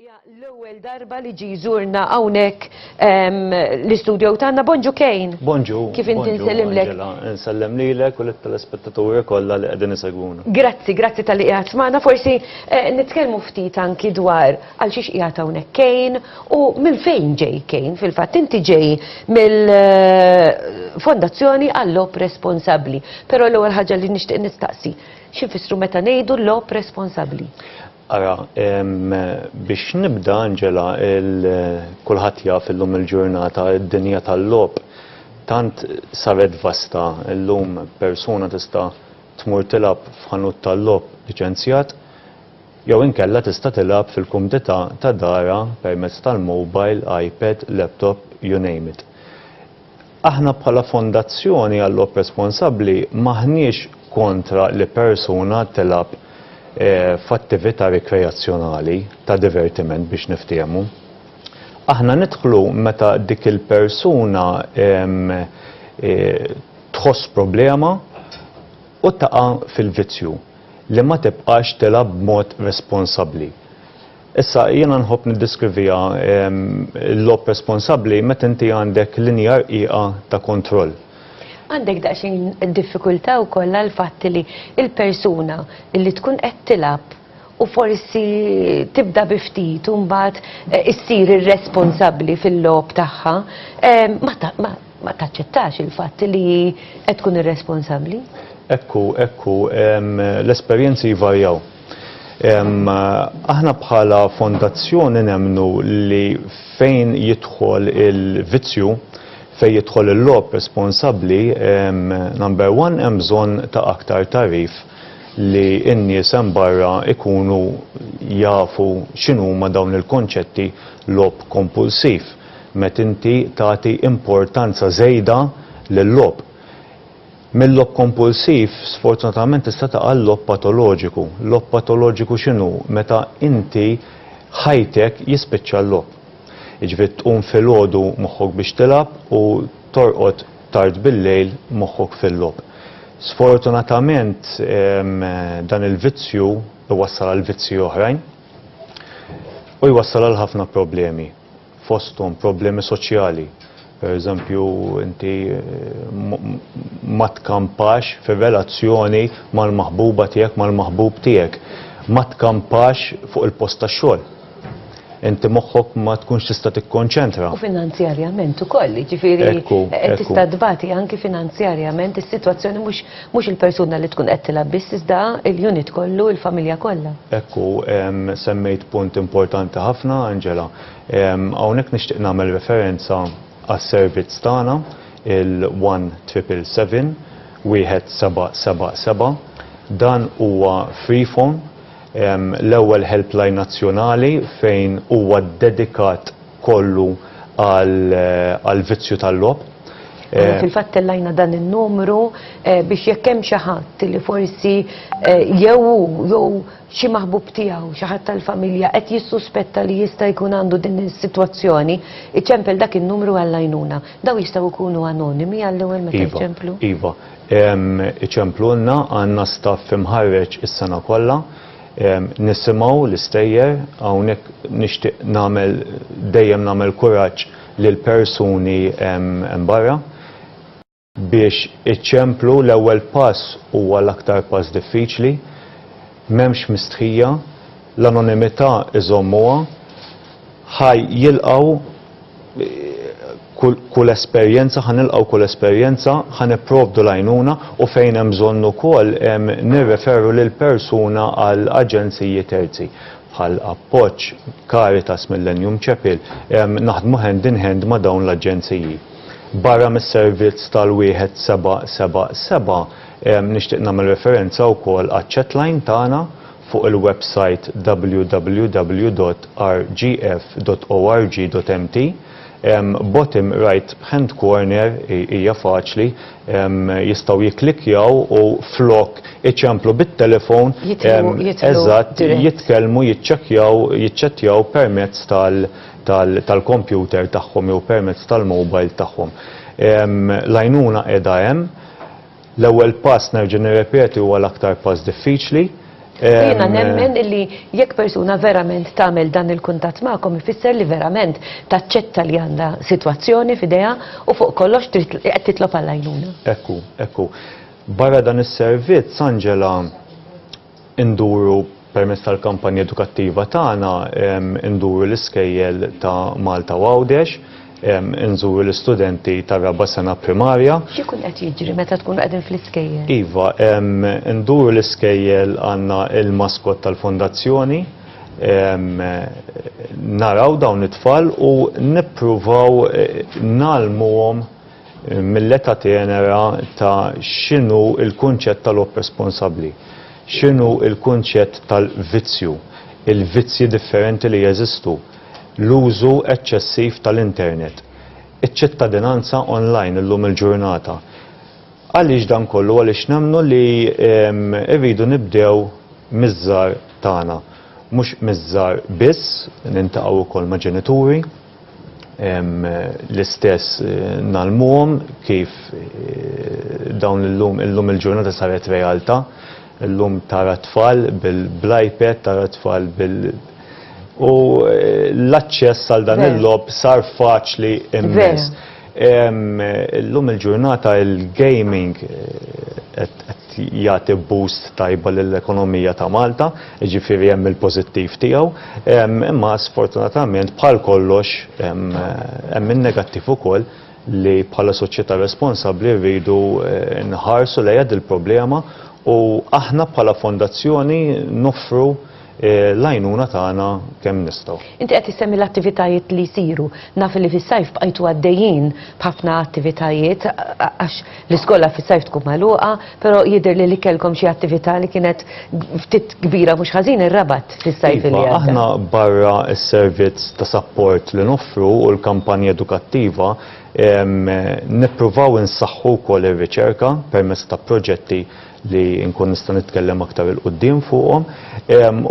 Hija l-ewwel darba li ġi jżurna hawnhekk ehm, l-istudio tagħna Bonġu Kejn. Bonġu. Kif inti nsellimlek. Nsellem lilek u lit-telespettaturi kollha li qegħdin isegwuna. Grazzi, grazzi tal-li qiegħed magħna. Forsi eh, nitkellmu ftit anki dwar għal xiex qiegħed hawnhekk Kejn u minn fejn ġej Kejn fil-fatt inti ġej mill-Fondazzjoni eh, għall-Lop Responsabbli. Però l-ewwel ħaġa li nixtieq nistaqsi, x'infissru meta ngħidu Lop Responsabbli? Ara, biex nibda Angela, kulħadd jaf illum il-ġurnata id-dinja tal-lop tant saret vasta illum persuna tista' tmur tilab f'ħanut tal-lop liċenzjat jew inkella tista' tilgħab fil-kumdità ta' darha permezz tal-mobile, iPad, laptop, you name it. Aħna bħala Fondazzjoni għal-Logħob Responsabbli m'aħniex kontra li persuna tilgħab f'attività rikreazzjonali, ta' divertiment biex niftiehmu. Aħna nidħlu meta dik il-persuna tħoss problema, u taqa' fil-vizzju li ma tibqax tilgħab b'mod responsabbli. Issa, jiena nħobb niddeskriviha l-logħob responsabbli meta inti għandek linja rqiqa ta' kontroll. Għandek daqsxejn diffikultà wkoll għall-fatt li l-persuna li tkun qed tilgħab, u forsi tibda bi ftit u mbagħad eh, issir irresponsabbli fil-logħob tagħha, eh, ma taċċettax il-fatt li qed tkun irresponsabbli? Ekku, ekku, l-esperjenzi jvarjaw. Aħna bħala fondazzjoni nemnu li fejn jidħol il-vizzju, fej jidħol il-lob responsabli, number one, hemm bżonn ta' aktar tarif li n-nies hemm barra jkunu jafu x'inhuma dawn il-konċetti logħob kompulsiv, met inti tagħti importanza żejda lil-logħob. Mil-logħob kompulsiv sfortunatament tista' taqa' l-logħob patoloġiku. Logħob patoloġiku x'inhu? Meta inti ħajtek jispiċċa l-logħob. Jiġifieri tqum filgħodu moħħok biex tilgħab u torqod. tard bil-lejl moħħok fil-logħob. Sfortunatament dan il-vizzju jwassal għal vizzji oħrajn u jwassal għal ħafna problemi fosthom problemi soċjali. Pereżempju inti ma tkampax fir-relazzjoni mal-maħbuba tiegħek, mal-maħbub tiegħek, ma tkampax fuq il-post tax-xogħol. inti moħħok ma tkunx tista' tikkonċentra. U finanzjarjament ukoll, ġifieri qed tista' tbati anki finanzjarjament is-sitwazzjoni mhux mhux il-persuna li tkun qed tilgħab biss iżda l-unit kollu, il-familja kollha. Hekk hu, semmejt punt importanti ħafna, Angela. Hawnhekk nixtieq nagħmel referenza għas-servizz tagħna, il-one triple seven, wieħed seba' seba' seba'. Dan huwa free phone. l-ewwel helpline nazzjonali fejn huwa ddedikat kollu għall-vizzju tal-logħob. Aħna fil-fatt tellajna dan in-numru biex jekk hemm xi ħadd li forsi jew hu jew xi maħbub tiegħu, xi ħadd tal-familja qed jissuspetta li jista' jkun għandu din is-sitwazzjoni, iċempel dak in-numru għall-għajnuna. Dawn jistgħu jkunu anonimi għall-ewwel meta jċemplu? Iva, iva. Iċemplulna, għandna staff imħarreġ is-sena kollha. Nisimgħu l-istejjer, hawnhekk nixtieq nagħmel dejjem nagħmel kuraġġ lill-persuni hemm barra biex iċemplu l-ewwel pass huwa l-aktar pass diffiċli. M'hemmx mistħija, l-anonimità iżommuha ħaj jilqgħu kull kull esperjenza, ħa nilqgħu kull esperjenza, ħa nipprovdu l-għajnuna u fejn hemm bżonn ukoll nirreferu lill-persuna għal aġenziji terzi bħal Appoġġ, Caritas, Millennium Chapel, naħdmu hand in hand ma' dawn l-aġenziji. Barra mis-servizz tal-wieħed seba' seba' seba' Nixtieq nagħmel referenza wkoll għaċ-chatline tagħna fuq il-websajt www.rgf.org.mt. Bottom right hand corner, hija faċli, jistgħu jikklikkjaw u flok iċemplu bit-telefon, eżatt, jitkellmu, jiċċekkjaw, jiċċettjaw permezz tal-kompjuter tagħhom jew permezz tal-mobile tagħhom. L-għajnuna qiegħda hemm. L-ewwel pass nerġa' nirrepeti huwa l-aktar pass diffiċli. Jiena nemmen illi jekk persuna verament tagħmel dan il-kuntatt magħkom ifisser li verament taċċetta li għandha sitwazzjoni f'idejha u fuq kollox trid qed titlob għall-għajnuna. Hekk hu, hekk hu. Barra dan is-servizz, Angela, Induru permezz tal-kampanja edukattiva tagħna, induru l-iskejjel ta' Malta u Għawdex, inżuru l-istudenti tar-raba' sena primarja. X'ikun qed jiġri meta tkunu qegħdin fl-iskejjel? Iva, induru l-iskejjel għandna l-maskot tal-fondazzjoni, naraw dawn it-tfal u nippruvaw ngħallmuhom, Mill-età tenera ta' x'inhu l-kunċett tal-għob responsabbli, x'inhu l-kunċett tal-vizzju, il-vizzji differenti li jeżistu, l-użu eċċessiv tal-internet, iċ-ċittadinanza online illum il-ġurnata. Għaliex dan kollu? Għaliex nemmnu li rridu nibdew miż-żgħar tagħna. Mhux miż-żgħar biss, niltaqgħu wkoll ma' ġenituri, l-istess eh, nalmuhom kif eh, dawn illum illum il-ġurnata saret realtà illum tara tfal bil-iPad tara tfal bil u eh, l-aċċess għal dan il-lob sar faċli immens. Illum il-ġurnata il-gaming qed jagħti boost tajba lill-ekonomija ta' Malta, jiġifieri hemm il-pożittiv tiegħu, imma sfortunatament bħal kollox hemm in-negattiv ukoll li bħala soċjetà responsabbli rridu nħarsu lejha dil-problema u aħna bħala fondazzjoni noffru l-għajnuna tagħna kemm nistgħu. Inti qed issemmi l-attivitajiet li jsiru. Naf li fis-sajf bqajtu għaddejjin b'ħafna attivitajiet għax l-iskola fis-sajf tkun magħluqa, però jidhirli li kellkom xi attività li kienet ftit kbira mhux ħażin ir-Rabat fis-sajf li għadda. Iva, aħna barra s-servizz ta' sapport li noffru u l-kampanja edukattiva, nippruvaw insaħħu wkoll ir-riċerka permezz ta' proġetti li nkun nista' nitkellem aktar 'il quddiem fuqhom,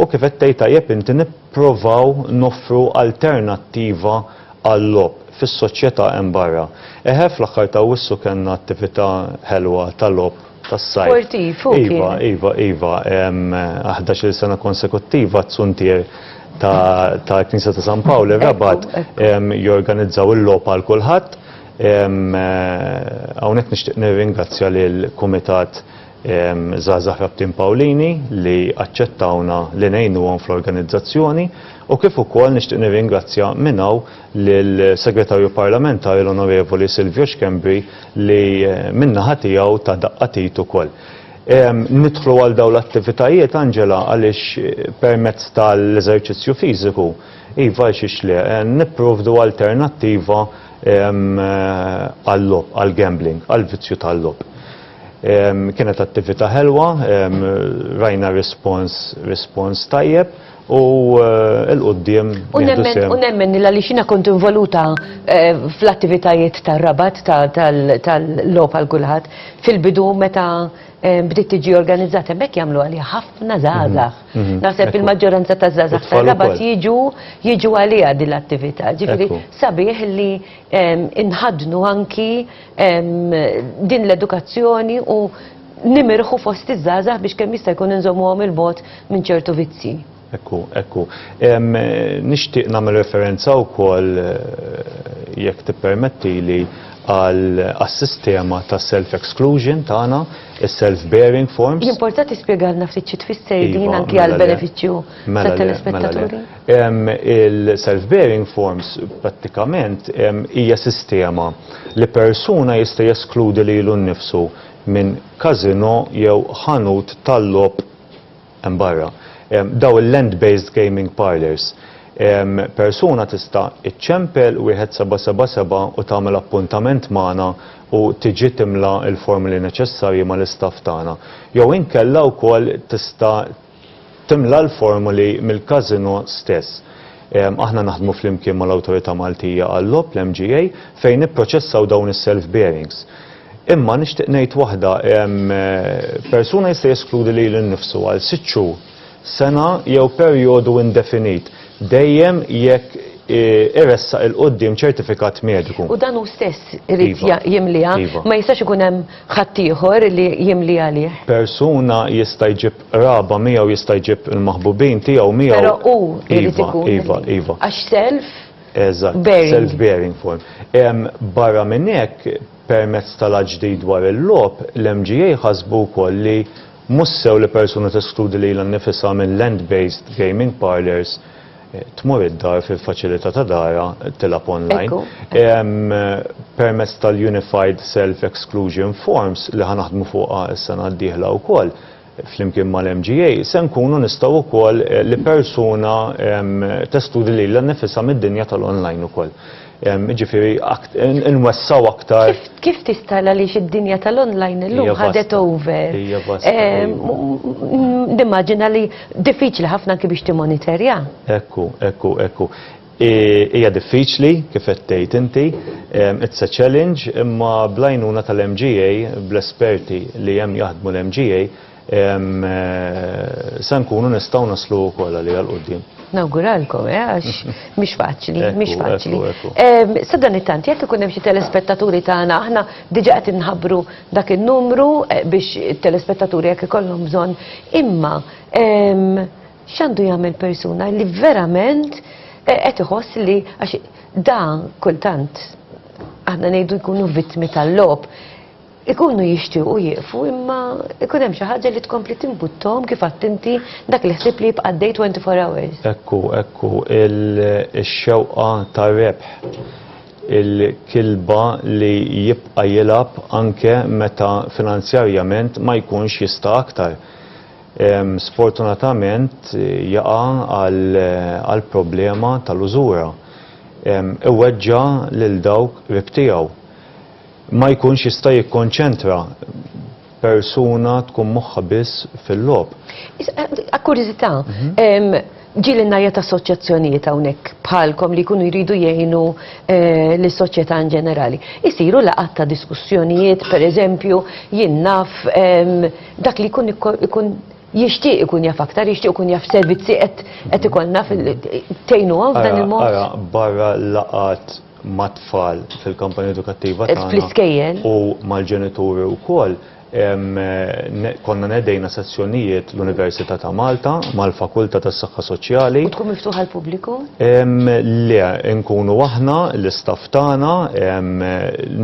u kif qed tgħid tajjeb inti nipprovaw noffru alternattiva għal-logħob fis-soċjetà hemm barra. Eħe, fl-aħħar ta' Awwissu kellna attività ħelwa ta' logħob tas-sajf. Sportiv, hu kien. Iva, iva, iva. Għal ħdax-il sena konsekuttiva t-tsuntier tal-Knisja ta' San Pawl ir-Rabat jorganizzaw il-logħob għal kulħadd. Hawnhekk nixtieq nirringrazzja lil Kumitat Żgħażagħ Rabtin Pawlini li aċċettawna li ngħinuhom fl-organizzazzjoni u kif ukoll nixtieq nirringrazzja minn hawn lill-Segretarju Parlamentari l-Onorevoli Silvio Schembri li min-naħa tiegħu ta daqqa t'id ukoll. Nidħlu għal dawn l-attivitajiet Angela għaliex permezz tal-eżerċizzju fiżiku iva għaliex le nipprovdu alternattiva għal-lob, għal-gambling, għal-vizzju tal-lob. Kienet attività ħelwa, rajna respons, respons tajjeb u eh, l-qoddim. U nemmen nilla li xina kont involuta eh, fl-attivitajiet tal-rabat tal-lob għal kulħadd fil-bidu meta eh, bdiet tiġi organizzata bekk jagħmlu għalli ħafna żgħażagħ. Mhm. Naħseb il-maġġoranza ta' żgħażagħ ta' rabat jiġu jiġu għaliha din l-attività. Ġifieri sabiħ li inħadnu anki din l-edukazzjoni u nimirħu fost iż-żgħażagħ biex kemm jista' jkun inżommuhom il-bot minn ċertu vizzi. Ekku, ekku. Nixtieq nagħmel referenza wkoll eh, jekk tippermetti li għal sistema ta' self-exclusion tagħna Is-self-bearing forms. Jimporta tispjegalna ftit xi tfisser iva, din anki għal mela benefiċċju mela tat-telespettaturi? Mela Il-self-bearing forms prattikament hija sistema li persuna jista' jeskludi lilu nnifsu minn każino jew ħanut tal-logħob hemm barra, dawn il-land-based gaming parlours, persuna tista' iċċempel wieħed seba' seba' seba' u tagħmel appuntament magħna u tiġi timla l-formoli neċessarji mal-istaff tagħna. Jew inkella wkoll tista' timla l-formoli mill-każinò stess. Aħna naħdmu flimkien mal-Awtorità Maltija għal-Logħob, l-MGA, fejn nipproċessaw dawn is-self-bearings. Imma nixtieq ngħid waħda, persuna jista' jeskludi lilu nnifsu għal sitt xhur, sena jew perjodu indefinit, dejjem jekk iressaq 'il quddiem ċertifikat mediku. U dan hu stess irid jimliha, ma jistax ikun hemm ħaddieħor li jimli għalih. Persuna jista' jġib qraba miegħu, jista' jġib il-maħbubin tiegħu miegħu. Però hu jrid ikun. Iva, iva, iva. Għax self. Eżatt, self-bearing form. Barra minn hekk, permezz tal-aġdid dwar il-logħob, l-MGA ħasbu wkoll li mhux sew li persuna teskludi lilha nnifisha minn land-based gaming parlours tmur id-dar fil-faċilità ta' darha tilgħab online. Permezz tal-Unified Self-Exclusion Forms li ħa naħdmu fuqha s-sena d-dieħla wkoll, flimkien mal-MGA, se nkunu nistgħu wkoll li persuna testudi lilha nnifisha mid-dinja tal-online ukoll. Jiġifieri nwessgħu aktar. Kif tista' għaliex id-dinja tal-online illum ħadet over. Hija vasta. Nimmaġina li diffiċli ħafna anki biex timmonitorja. Hekk hu, hekk hu, hekk hu. Hija diffiċli, kif qed tgħid inti, it's a challenge, imma bl-għajnuna tal-MGA, bl-esperti li hemm jaħdmu l-MGA, se nkunu nistgħu naslu wkoll għaliha 'l quddiem. Nawguralkom, għax mhix faċli, mhix faċli. Sadanittant, jekk ikun hemm xi telespettaturi tagħna, aħna diġà qed inħabbru dak in-numru biex it-telespettaturi jekk ikollhom bżonn, imma X'għandu jagħmel persuna li verament eh, qed iħoss li għax da kultant aħna ngħidu jkunu vittmi tal-lob. Ikunu jixtiequ jieqfu imma ikun hemm xi ħaġa li tkompli timbuttom kif attinti dak li ħsib li jibqa' dej 24 hours. Ekku, ekku, il-xewqa ta' rebħ il-kilba li jibqa' jilab anke meta finanzjarjament ma jkunx jista' aktar. sfortunatament jaqa' għal problema tal-użura. Iweġġa' lil dawk qrib tiegħu. Ma jkunx jista' jikkonċentra. Persuna tkun moħħha biss fil-logħob. Għal kurjużità, ġielilna jgħid assoċjazzjonijiet hawnhekk bħalkom li jkunu jridu jgħinu lis-soċjetà in ġenerali. Isiru laqgħat ta' diskussjonijiet, pereżempju, jien naf, Dak li jkun ikun jixtieq ikun jaf aktar, jixtieq ikun jaf servizzi qed ikollna tgħinu għaw f'dan il-mod. Ara, barra laqat mat-tfal fil-kampanja edukattiva tagħna. Fl-iskejjel. U mal-ġenituri wkoll konna nedejna sezzjonijiet l-Università ta' Malta mal-Fakultà tas-Saħħa Soċjali. U tkun miftuħa l-pubbliku? Le, nkunu aħna l-istaff tagħna,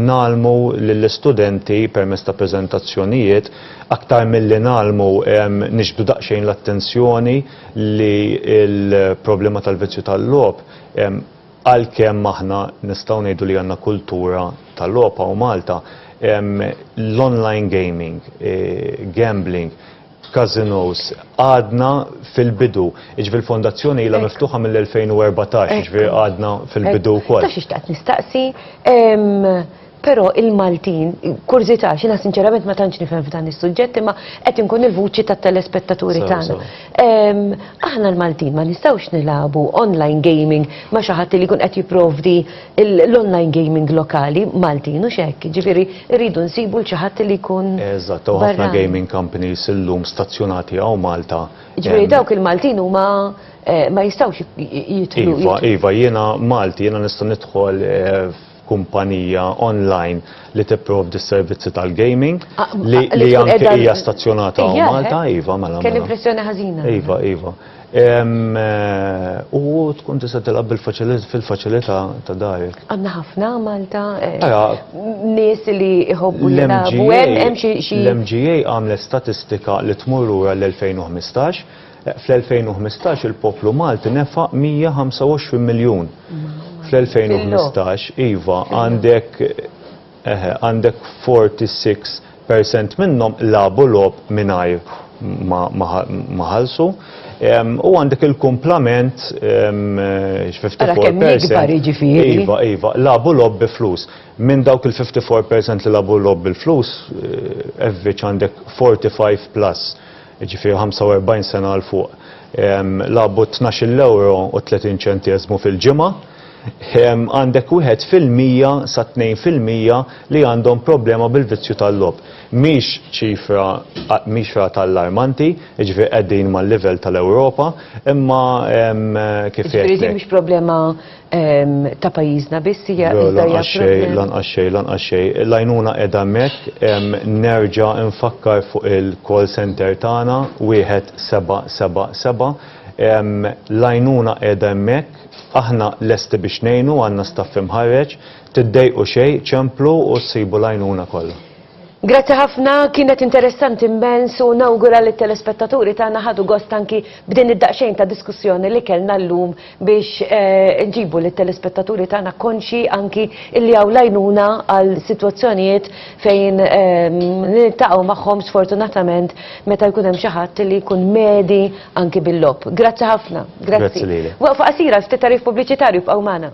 ngħallmu lill-istudenti permezz ta' preżentazzjonijiet, aktar milli ngħallmu nixbdu daqsxejn l-attenzjoni li l-problema tal-vizzju tal-logħob, għalkemm aħna nistgħu ngħidu li għandna kultura ta' logħob hawn Malta, l-online gaming, gambling, Casinos. Għadna fil-bidu, iġvi l-fondazzjoni ila miftuħa mill-2014, iġvi għadna fil-bidu kol. Ta' xiex taqt nistaqsi, pero il-Maltin, kurzita, xina sinċerament ma tantx nifhem f'dan is-suġġett, imma qed inkun il-vuċi ta' telespettaturi tagħna. Aħna l-Maltin ma nistgħux nilabu online gaming ma xi ħadd li jkun qed jipprovdi l-online gaming lokali Maltin u xekk, ġifiri rridu nsibu l-ċaħat li kun. Eżatt, u ħafna gaming companies illum stazzjonati għaw Malta. Ġifiri dawk il-Maltin huma eh, ma jistawx jitlu. Iva, iva, jena Malti, jena nista' nidħol eh, kumpanija online li tipprovdi s-servizzi tal-gaming ah, li ah, anke hija stazzjonata għaw eh? Malta, iva, mela. Kelli mela. impressjoni ħażina. Iva, iva. U tkun tista' tilgħab fil-faċilità ta' darek. Għandna ħafna Malta nies li jħobbu jilagħbu hemm xi. L-MGA għamlet statistika li tmur ura l-2015. Fl-2015 il-poplu Malti nefaq 125 miljun. Fl-2015 iva għandek Eħe, għandek 46 percent minnhom labu logħob mingħajr ma ħallsu. U għandek il-kumplament il-54%. Jiġifieri. Iva, iva, labu lob bi flus. Minn dawk il-54% li labu lob bil-flus, eh, evviċ għandek 45 plus. jiġifieri 45 sena 'l fuq, lagħbu t-tnax-il ewro u tletin ċenteżmu fil-ġimgħa, għandek wieħed fil-mija sa tnejn fil-mija li għandhom problema bil-vizzju tal-logħob. Mhix ċifra mhix rata allarmanti, jiġifieri qegħdin mal-livell tal-Ewropa, imma kif għedtlek. Jiġifieri din mhix problema ta' pajjiżna biss hija Lanqas xejn, lanqas xejn, lanqas xejn. L-għajnuna qiegħda hemmhekk nerġa' nfakkar fuq il-call center tagħna wieħed seba' seba' seba'. L-għajnuna qiegħda hemmhekk, aħna lesti biex ngħinu, għandna staff imħarreġ. Tiddejqu xejn, ċemplu u ssibu l-għajnuna kollha. Grazzi ħafna, kienet interessanti immens u nawgura li t-telespettaturi tagħna ħadu gost anki b'din id-daqsxejn ta' diskussjoni li kellna llum biex eh, nġibu lit telespettaturi tagħna konxi anki illi hawn lajnuna għal sitwazzjonijiet fejn ehm, niltaqgħu magħhom sfortunatament meta jkun hemm xi ħadd li jkun medi anki bil-lob. Grazzi ħafna. Grazzi lili. Waqfa qasira ftit tarif pubbliċitarju b'qaw magħna.